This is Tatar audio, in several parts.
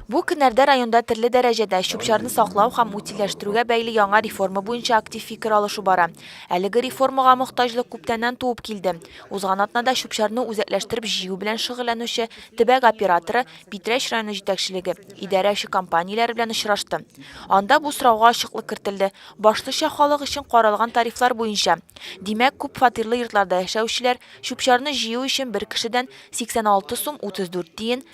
Бу көннәрдә районда төрле дәрәҗәдә чүп-чарны саклау һәм утильләштерүгә бәйле яңа реформа буенча актив фикер алышу бара. Әлеге реформага мохтаҗлык күптәннән туып килде. Узган атнада чүп-чарны үзәкләштереп җыю белән шөгыльләнүче төбәк операторы, Питрәч районы җитәкчелеге, идарә эше компанияләре белән очрашты. Анда бу сорауга ачыклык кертелде, башлыча халык өчен каралган тарифлар буенча. Димәк, күп фатирлы йортларда яшәүчеләр чүп-чарны җыю өчен бер кешедән 86 сум 34 тиен,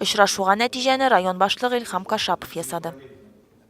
Очрашуга нәтиҗәне район башлыгы Илһам Кашапов ясады.